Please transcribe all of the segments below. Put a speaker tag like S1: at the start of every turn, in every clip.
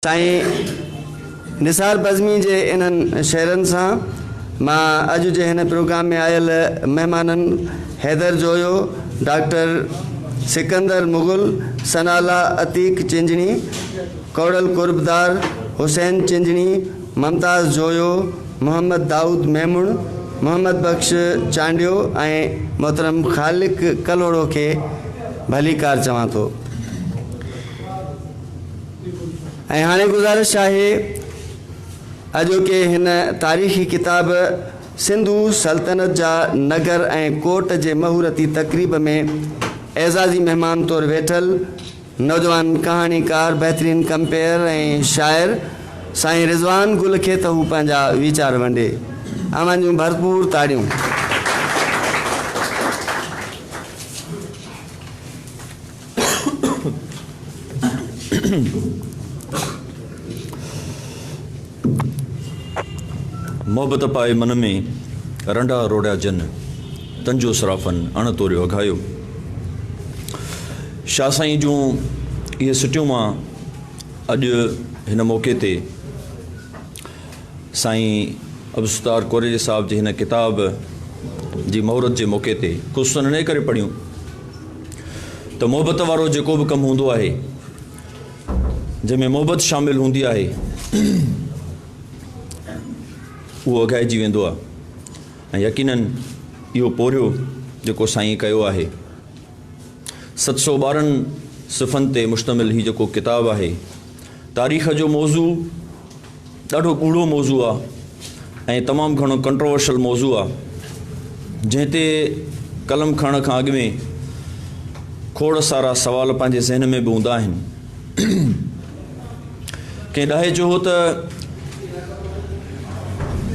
S1: سائين نثار بزمي جي انهن شعرن سان مان اڄ جي هن پروگرام ۾ آيل مهمانن حيدر جويو، ڊاڪٽر سڪندر مغل، ثناء الله عتيق چنجڻي، ڪوڙل قربدار، حسين چنجڻي، ممتاز جويو، محمد دائود ميمڻ، محمد بخش چانڊيو ۽ محترم خالق ڪلهوڙو کي ڀليڪار چوان ٿو. ۽ هاڻي گذارش آهي اڄوڪي هن تاريخي ڪتاب سنڌو سلطنت جا نگر ۽ ڪوٽ جي مهورتي تقريب ۾ اعزازي مهمان طور ويٺل نوجوان ڪهاڻيڪار بهترين ڪمپيئر ۽ شاعر سائين رضوان گل کي ته هو پنهنجا ويچار ونڊي اوهان جون ڀرپور تاڙيون
S2: محبت پائي من ۾، رنڊا روڙيا جن، تن جو سرافن اڻ توريو اگهايو. شاهه سائين جون اهي سٽيون مان اڄ هن موقعي تي سائين عبدالستار ڪوريجي صاحب جي هن ڪتاب جي مهورت جي موقعي تي خصوصن انهيء ڪري پڙهيون، ته محبت وارو جيڪو به ڪم هوندو آهي جنهن ۾ محبت شامل هوندي آهي اهو اگهائجي ويندو آهي ۽ يقينن اهو پورهيو جيڪو سائين ڪيو آهي ست سو ٻارهن صفحن تي مشتمل هي جيڪو ڪتاب آهي تاريخ جو موضوع ڏاڍو ڳوڙهو موضوع آ ۽ تمام گهڻو ڪنٽروورشل موضوع آ جنهن تي قلم کڻڻ کان اڳ ۾ کوڙ سارا سوال پنهنجي ذهن ۾ به هوندا آهن ڪنهن ڏاهي چيو هو ته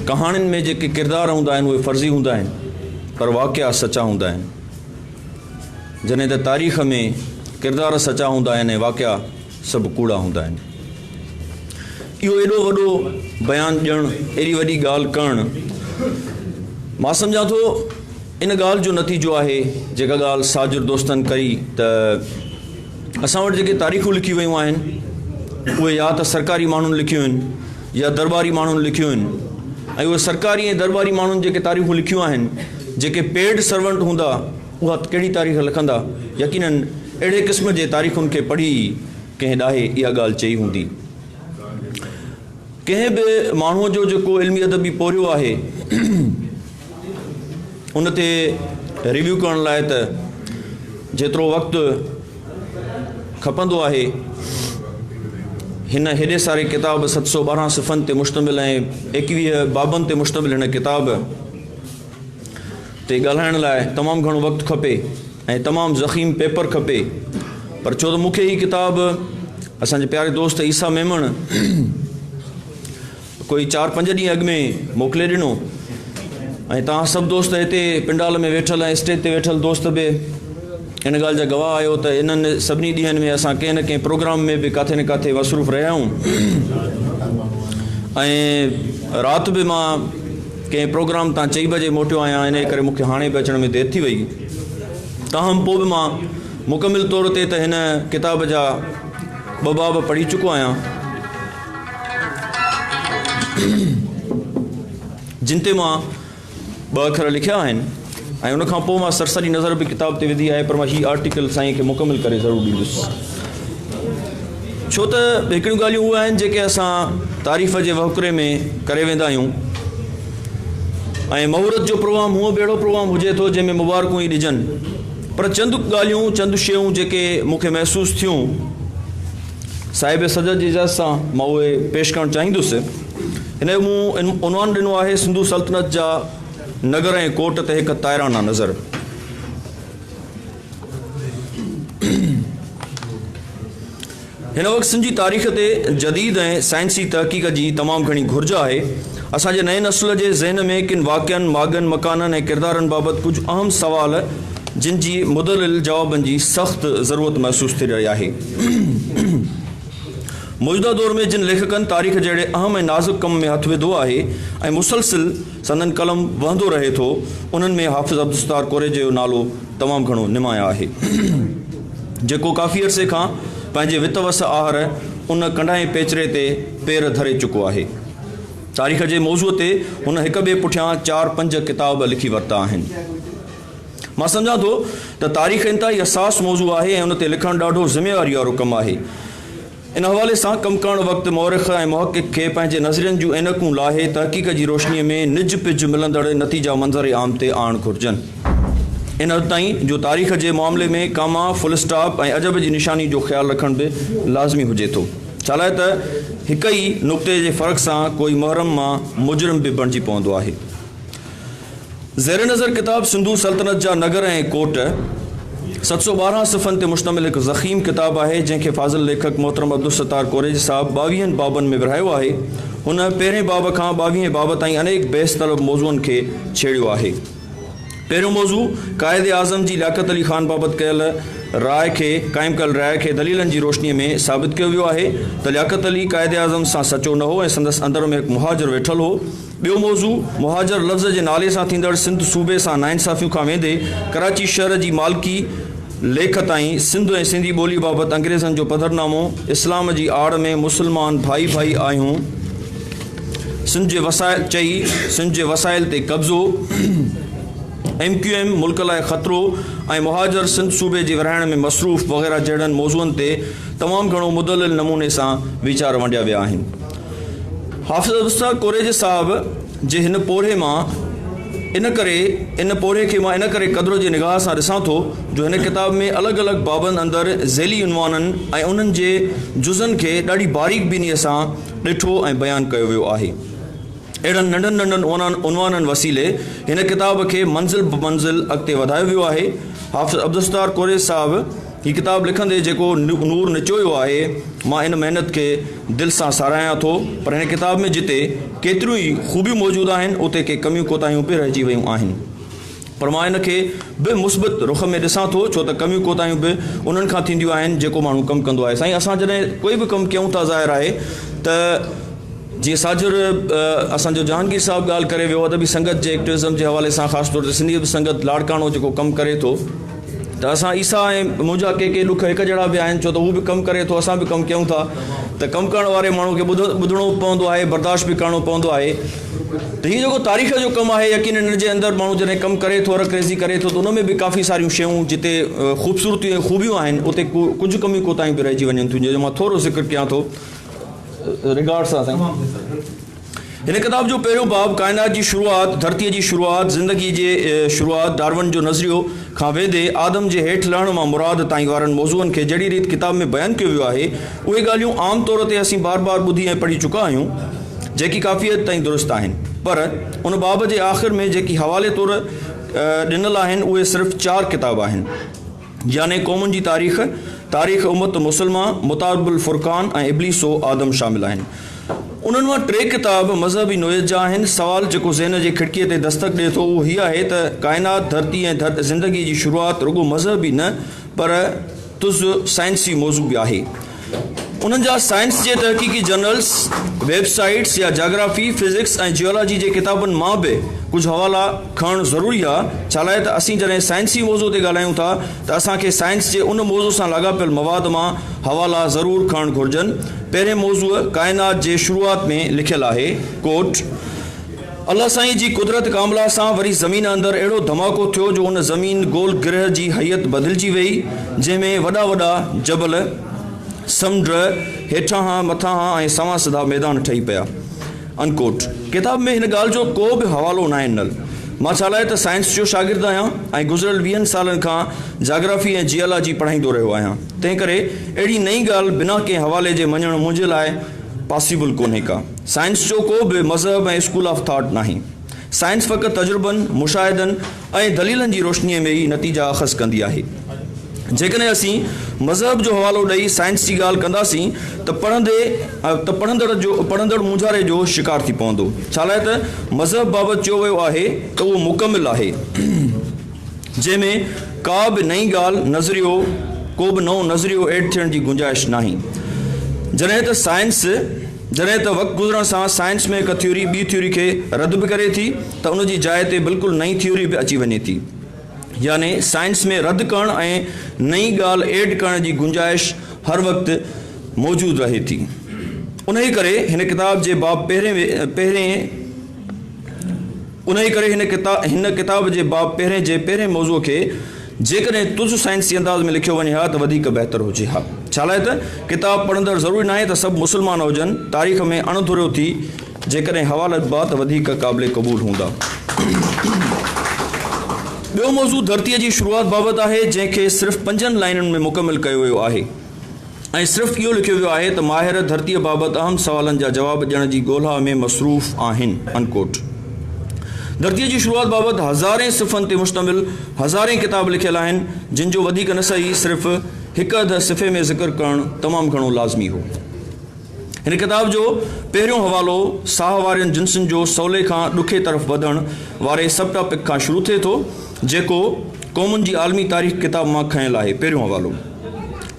S2: ڪهاڻين ۾ جيڪي ڪردار هوندا آهن اهي فرضي هوندا آهن پر واقعا سچا هوندا آهن جڏهن ته تاريخ ۾ ڪردار سچا هوندا آهن ۽ واقعا سڀ ڪوڙا هوندا آهن. اهو ايڏو وڏو بيان ڏيڻ ايڏي وڏي ڳالهه ڪرڻ مان سمجهان ٿو ان ڳالهه جو نتيجو آهي جيڪا ڳالهه ساجر دوستن ڪئي ته اسان وٽ جيڪي تاريخون لکي ويون آهن اهي يا ته سرڪاري ماڻهن لکيون آهن يا درباري ماڻهن لکيون آهن ۽ اهي سرڪاري ۽ درباري ماڻهن جيڪي تاريخون لکيون آهن جيڪي پيڊ سرونٽ هوندا اها ڪهڙي تاريخ لکندا؟ يقينن اهڙي قسم جي تاريخن کي پڙهي ئي ڪنهن ڏاهي اها ڳالهه چئي هوندي. ڪنهن به ماڻهوء جو جيڪو علمي ادبي پورهيو آهي ان تي ريويو ڪرڻ لاء ته جيترو وقت کپندو آهي هن هيڏي ساري ڪتاب ست سؤ ٻارهن صفحن تي مشتمل ۽ ايڪويهه بابن تي مشتمل هن ڪتاب تي ڳالهائڻ لاء تمام گهڻو وقت کپي ۽ تمام ضخيم پيپر کپي پر ڇو ته مون کي هي ڪتاب اسان جي پياري دوست عيسيٰ ميمڻ ڪوئي چار پنج ڏينهن اڳ ۾ موڪلي ڏنو ۽ توهان سڀ دوست هتي پنڊال ۾ ويٺل ۽ اسٽيج تي ويٺل دوست به ان ڳالهه جا گواهه آهيو ته انهن سڀني ڏينهن ۾ اسان ڪنهن نه ڪنهن پروگرام ۾ به ڪاٿي نه ڪاٿي مصروف رهيا آهيون ۽ رات به مان ڪنهن پروگرام تان چئي بجي موٽيو آهيان، انهيء ڪري مون کي هاڻي به اچڻ ۾ دير ٿي ويئي. تاهم پوء به مان مڪمل طور تي ته هن ڪتاب جا ٻه باب پڙهي چڪو آهيان، جن تي مان ٻه اکر لکيا آهن. ۽ ان کان پوء مان سرسري نظر به ڪتاب تي وڌي آهي پر مان هي آرٽيڪل سائين کي مڪمل ڪري ضرور ڏيندس ڇو ته هڪڙيون ڳالهيون اهي آهن جيڪي اسان تعريف جي وهڪري ۾ ڪري ويندا آهيون ۽ مهورت جو پروگرام هونء به اهڙو پروگرام هجي ٿو جنهن ۾ مبارڪون ئي ڏجن پر چند ڳالهيون چند شيون جيڪي مون کي محسوس ٿيون صاحب صدر جي اجازت سان مان اهي پيش ڪرڻ چاهيندس هن جو مون عنوان ڏنو آهي سنڌو سلطنت جا نگر ۽ ڪوٽ تي هڪ تائرانه نظر. هن وقت سنڌ جي تاريخ تي جديد ۽ سائنسي تحقيق جي تمام گهڻي گهرج آهي. اسان جي نئين نسل جي ذهن ۾ ڪن واقعن، ماڳن، مڪانن ۽ ڪردارن بابت ڪجهه اهم سوال جن جي مدلل جوابن جي سخت ضرورت محسوس ٿي رهي آهي. موجوده دور ۾ جن ليکڪن تاريخ جهڙي اهم ۽ نازڪ ڪم ۾ هٿ وڌو آهي ۽ مسلسل سندن قلم وهندو رهي ٿو، انهن ۾ حافظ عبدالستار ڪوريجي جو نالو تمام گهڻو نمايان آهي، جيڪو ڪافي عرصي کان پنهنجي وت وس آهر ان ڪنڍائي پيچري تي پير ڌري چڪو آهي. تاريخ جي موضوع تي هن هڪ ٻئي پٺيان چار پنج ڪتاب به لکي ورتا آهن. مان سمجهان ٿو ته تاريخ انتهائي حساس موضوع آهي ۽ ان تي لکڻ ڏاڍو ذميواريء وارو ڪم آهي. ان حوالي سان ڪم ڪرڻ وقت مؤرخ ۽ محقق کي پنهنجي نظرين جون عينڪون لاهي تحقيق جي روشنيء ۾ نج پج ملندڙ نتيجا منظر عام تي آڻڻ گهرجن. ان حد تائين جو تاريخ جي معاملي ۾ ڪاما، فل اسٽاپ ۽ عجب جي نشاني جو خيال رکڻ به لازمي هجي ٿو. ڇالاء ته هڪ ئي نقطي جي فرق سان ڪوئي محرم مان مجرم به بڻجي پوندو آهي. زير نظر ڪتاب سنڌو سلطنت جا نگر ۽ ڪوٽ ست سؤ ٻارهن صفحن تي مشتمل هڪ ضخيم ڪتاب آهي، جنهن کي فاضل ليکڪ محترم عبدالستار ڪوريجي صاحب ٻاويهن بابن ۾ ورهايو آهي. هن پهرين باب کان ٻاويهين باب تائين انيڪ بحث طلب موضوعن کي ڇيڙيو آهي. پهريون موضوع قائد اعظم جي لياقت علي خان بابت ڪيل راء کي قائم ڪيل راء کي دليلن جي روشنيء ۾ ثابت ڪيو ويو آهي ته لياقت علي قائد اعظم سان سچو نه هو ۽ سندس اندر ۾ هڪ مهاجر ويٺل هو، ٻيو موضوع مهاجر لفظ جي نالي سان ٿيندڙ سنڌ صوبي سان ناانصافيون کان ويندي ڪراچي شهر جي مالڪي ليک تائين سنڌ ۽ سنڌي ٻولي بابت انگريزن جو پڌرنامو اسلام جي آڙ ۾ مسلمان ڀائي ڀائي آهيون سنڌ جي وسائل چئي سنڌ جي وسائل تي قبضو ايم ڪيو ايم ملڪ لاء خطرو ۽ مهاجر سنڌ صوبي جي ورهائڻ ۾ مصروف وغيره جهڙن موضوعن تي تمام گهڻو مدلل نموني سان ويچار ونڊيا ويا آهن حافظ ابوالسنا ڪوريجي صاحب جي هن پورهيي مان ان ڪري ان پورهيي کي مان ان ڪري قدر جي نگاهه سان ڏسان ٿو جو هن ڪتاب ۾ الڳ الڳ بابن اندر ذيلي عنوانن ۽ انهن جي جزن کي ڏاڍي باريڪ بينيء سان ڏٺو ۽ بيان ڪيو ويو آهي. اهڙن ننڍن ننڍن عنوانن وسيلي هن ڪتاب کي منزل بمنزل اڳتي وڌايو ويو آهي. حافظ عبدالستار ڪوريجي صاحب. هي ڪتاب لکندي جيڪو نور نچويو آهي، مان ان محنت کي دل سان ساراهيان ٿو، پر هن ڪتاب ۾ جتي ڪيتريون ئي خوبيون موجود آهن، اتي ڪي ڪميون ڪوتاهيون به رهجي ويون آهن. پر مان ان کي به مثبت رخ ۾ ڏسان ٿو، ڇو ته ڪميون ڪوتاهيون به انهن کان ٿينديون آهن، جيڪو ماڻهو ڪم ڪندو آهي. سائين اسان جڏهن ڪوئي به ڪم ڪيون ٿا ظاهر آهي ته جيئن ساجھر اسان جو جهانگير صاحب ڳالهه ڪري ويو، ادبي سنگت جي ايڪٽويزم جي حوالي سان خاص طور تي سنڌي ادبي سنگت لاڙڪاڻو جيڪو ڪم ڪري ٿو، ته اسان عيسيٰ ۽ منهنجا ڪي ڪي ڏک هڪ جهڙا به آهن ڇو ته هو به ڪم ڪري ٿو اسان به ڪم ڪيون ٿا ته ڪم ڪرڻ واري ماڻهو کي ٻڌڻو به پوندو آهي برداشت به ڪرڻو پوندو آهي ته هي جيڪو تاريخ جو ڪم آهي يقينن ان جي اندر ماڻهو جڏهن ڪم ڪري ٿو رڪريزي ڪري ٿو ته ان ۾ به ڪافي ساريون شيون جتي خوبصورتيون ۽ خوبيون آهن اتي ڪجهه ڪميون ڪوتاهيون به رهجي وڃن ٿيون جنهن جو مان ٿورو ذڪر ڪيان ٿو رگارڊس سان سائين هن ڪتاب جو پهريون باب ڪائنات جي شروعات، ڌرتيء جي شروعات، زندگيء جي شروعات، ڊارون جو نظريو، کان ويندي آدم جي هيٺ لهڻ مان مراد تائين وارن موضوعن کي جهڙي ريت ڪتاب ۾ بيان ڪيو ويو آهي، اهي ڳالهيون عام طور تي اسين بار بار ٻڌي ۽ پڙهي چڪا آهيون، جيڪي ڪافي حد تائين درست آهن. پر ان باب جي آخر ۾ جيڪي حوالي طور ڏنل آهن، اهي صرف چار ڪتاب آهن. جياني قومن جي تاريخ، تاريخ امت مسلمه، متارب الفرقان ۽ ابليس و آدم شامل آهن. انهن مان ٽي ڪتاب مذهبي نوعيت جا آهن. سوال جيڪو ذهن جي کڙڪيء تي دستڪ ڏئي ٿو اهو هي آهي ته ڪائنات، ڌرتي ۽ زندگيء جي شروعات رڳو مذهبي نه پر تز سائنسي موضوع به آهي. انهن جا سائنس جي تحقيقي جرنلز، ويب سائيٽس يا جاگرافي، فزڪس ۽ جيالاجي جي ڪتابن مان به ڪجهه حوالا کڻڻ ضروري آهي، ڇالاء ته اسين جڏهن سائنسي موضوع تي ڳالهايون ٿا ته اسان کي سائنس جي ان موضوع سان لاڳاپيل مواد مان حوالا ضرور کڻڻ گهرجن. پهرين موضوع ڪائنات جي شروعات ۾ لکيل آهي. Quote، الله سائين جي قدرت ڪامله سان وري زمين اندر اهڙو ڌماڪو ٿيو جو ان زمين گول گرهه جي هيئت بدلجي ويئي جنهن ۾ وڏا وڏا جبل، سمنڊ، هيٺانهان، مٿانهان ۽ سوان سڌا ميدان ٺهي پيا. Unquote. ڪتاب ۾ هن ڳالهه جو ڪو به حوالو ناهي ڏنل. مان ڇالاء ته سائنس جو شاگرد آهيان ۽ گذريل ويهن سالن کان جاگرافي ۽ جيالاجي پڙهائيندو رهيو آهيان تنهنڪري اهڙي نئين ڳالهه بنا ڪنهن حوالي جي مڃڻ منهنجي لاء پاسيبل ڪونهي ڪا. سائنس جو ڪو به مذهب ۽ اسڪول آف ٿاٽ ناهي. سائنس فقط تجربن، مشاهدن ۽ دليلن جي روشنيء ۾ ئي نتيجا اخذ ڪندي آهي. جيڪڏهن اسين مذهب جو حوالو ڏئي سائنس جي ڳالهه ڪنداسين ته پڙهندي ته پڙهندڙ جو پڙهندڙ مونجهاري جو شڪار ٿي پوندو. ڇالاء ته مذهب بابت چيو ويو آهي ته اهو مڪمل آهي جنهن ۾ ڪا به نئين ڳالهه، نظريو، ڪو به نئون نظريو ايڊ ٿيڻ جي گنجائش ناهي. جڏهن ته سائنس. جڏهن ته وقت گذرڻ سان سائنس ۾ هڪ ٿيوري ٻي ٿيوري کي رد به ڪري ٿي ته ان جي جاء تي بلڪل نئين ٿيوري به اچي وڃي ٿي يعني سائنس ۾ رد ڪرڻ ۽ نئين ڳالهه ايڊ ڪرڻ جي گنجائش هر وقت موجود رهي ٿي انهي ڪري هن ڪتاب جي باب پهرين جي پهرين موضوع کي جيڪڏهن تز سائنسي انداز ۾ لکيو وڃي ها ته وڌيڪ بهتر هجي ها. ڇالاء ته ڪتاب پڙهندڙ ضروري ناهي ته سڀ مسلمان هجن، تاريخ ۾ اڻ ڌريو ٿي جيڪڏهن حوالا لکبا ته وڌيڪ قابل قبول هوندا. ٻيو موضوع ڌرتيء جي شروعات بابت آهي، جنهن کي صرف پنجن لائنن ۾ مڪمل ڪيو ويو آهي. ۽ صرف اهو لکيو ويو آهي ته ماهر ڌرتيء بابت اهم سوالن جا جواب ڏيڻ جي ڳولها ۾ مصروف آهن. ڌرتيء جي شروعات بابت هزارين صفحن تي مشتمل هزارين ڪتاب لکيل آهن، جن جو وڌيڪ نه سهي صرف هڪ اڌ صفحي ۾ ذڪر ڪرڻ تمام گهڻو لازمي هو. هن ڪتاب جو پهريون حوالو ساهه وارين جنسن جو سولي کان ڏکي طرف وڌڻ واري سب ٽاپڪ کان شروع ٿئي ٿو، جيڪو قومن جي عالمي تاريخ ڪتاب مان کنيل آهي، پهريون حوالو.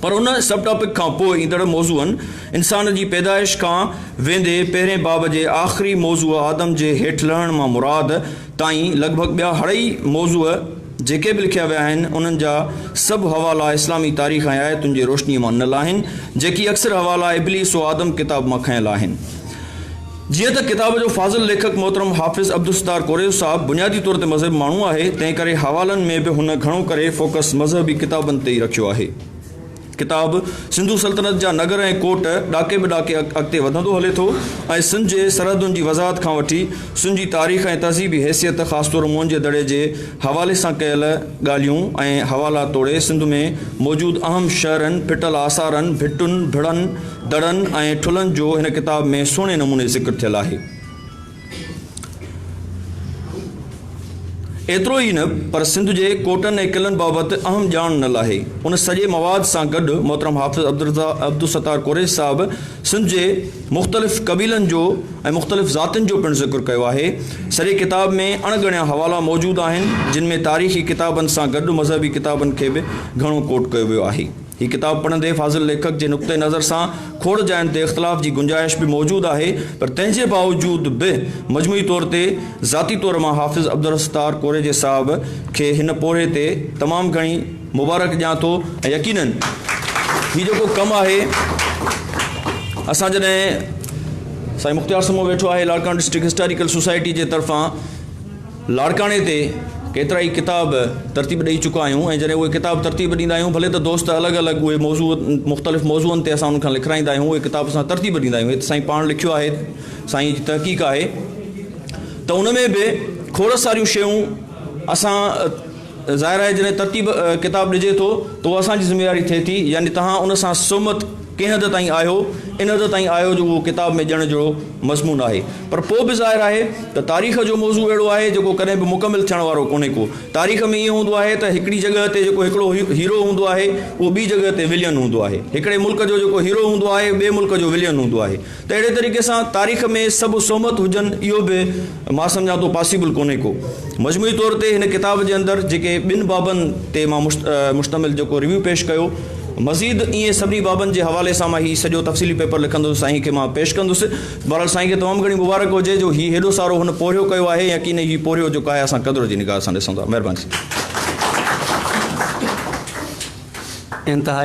S2: پر ان سب ٽاپڪ کان پوء ايندڙ موضوعن، انسان جي پيدائش کان ويندي پهرين باب جي آخري موضوع آدم جي هيٺ لهڻ مان مراد تائين لڳ ڀڳ ٻيا هڙئي موضوع، جيڪي به لکيا ويا آهن، انهن جا سڀ حوالا اسلامي تاريخ ۽ آيتن جي روشنيء مان نل آهن، جيڪي اڪثر حوالا ابليس و آدم ڪتاب مان کنيل آهن. جيئن ته ڪتاب جو فاضل ليکڪ محترم حافظ عبدالستار ڪوريو صاحب بنيادي طور تي مذهبي ماڻهو آهي، تنهن ڪري حوالن ۾ به هن گهڻو ڪري فوڪس مذهبي ڪتابن تي ئي رکيو آهي. ڪتاب سنڌو سلطنت جا نگر ۽ ڪوٽ ڏاڪي به ڏاڪي اڳتي وڌندو هلي ٿو ۽ سنڌ جي سرحدن جي وضاحت کان وٺي سنڌ جي تاريخ ۽ تهذيبي حيثيت خاص طور موهنجي دڙي جي حوالي سان ڪيل ڳالهيون ۽ حوالا توڙي سنڌ ۾ موجود اهم شهرن ڦٽل آثارن ڀٽن ڀڙن دڙن ۽ ٺلهن جو هن ڪتاب ۾ سهڻي نموني ذڪر ٿيل آهي. ايترو ئي نه پر سنڌ جي ڪوٽن ۽ قلعن بابت اهم ڄاڻ نه لاهي. ان سڄي مواد سان گڏ محترم حافظ عبدالستار قريشي صاحب سنڌ جي مختلف قبيلن جو ۽ مختلف ذاتين جو پڻ ذڪر ڪيو آهي. سڄي ڪتاب ۾ اڻ ڳڻيا حوالا موجود آهن، جن ۾ تاريخي ڪتابن سان گڏ مذهبي ڪتابن کي به گهڻو ڪوٽ ڪيو ويو آهي. هي ڪتاب پڙهندي فاضل ليکڪ جي نقطه نظر سان کوڙ جاين تي اختلاف جي گنجائش به موجود آهي پر تنهن جي باوجود به مجموعي طور تي ذاتي طور مان حافظ عبدالستار ڪوريجي صاحب کي هن پورهيي تي تمام گهڻي مبارڪ ڏيان ٿو ۽ يقينن هي جيڪو ڪم آهي اسان جڏهن سائين مختيار سمو ويٺو آهي لاڙڪاڻو ڊسٽرڪٽ هسٽاريڪل سوسائٽي جي طرفان لاڙڪاڻي تي ڪيترائي ڪتاب ترتيب ڏئي چڪا آهيون ۽ جڏهن اهي ڪتاب ترتيب ڏيندا آهيون ڀلي ته دوست الڳ الڳ اهي موضوع مختلف موضوعن تي اسان انهن کان لکرائيندا آهيون اهي ڪتاب اسان ترتيب ڏيندا آهيون هي ته سائين پاڻ لکيو آهي سائين جي تحقيق آهي ته ان ۾ به کوڙ ساريون شيون اسان ظاهر آهي جڏهن ترتيب ڪتاب ڏجي ٿو ته اها اسان جي ذميواري ٿئي ٿي يعني توهان ان سان سهمت ڪنهن حد تائين آهيو ان حد تائين آهيو جو اهو ڪتاب ۾ ڄڻ جهڙو مضمون آهي پر پوء به ظاهر آهي ته تاريخ جو موضوع اهڙو آهي جيڪو ڪڏهن به مڪمل ٿيڻ وارو ڪونهي ڪو تاريخ ۾ ائين هوندو آهي ته هڪڙي جڳهه تي جيڪو هڪڙو هيرو هوندو آهي اهو ٻي جڳهه تي ولين هوندو آهي هڪڙي ملڪ جو جيڪو هيرو هوندو آهي ٻئي ملڪ جو ولين هوندو آهي ته اهڙي طريقي سان تاريخ ۾ سڀ سهمت هجن اهو به مان سمجهان ٿو پاسيبل ڪونهي ڪو. مجموعي طور تي هن ڪتاب جي اندر جيڪي ٻن بابن تي مان مشتمل جيڪو ريويو پيش ڪيو مزيد ائين سڀني بابن جي حوالي سان مان هي سڄو تفصيلي پيپر لکندس سائين کي مان پيش ڪندس. بهرحال سائين کي تمام گهڻي مبارڪ هجي جو هي هيڏو سارو هن پورهيو ڪيو آهي يا ڪينئي هي پورهيو جيڪو آهي اسان قدر جي نگاهه سان ڏسون ٿا. مهرباني سائين. انتهائي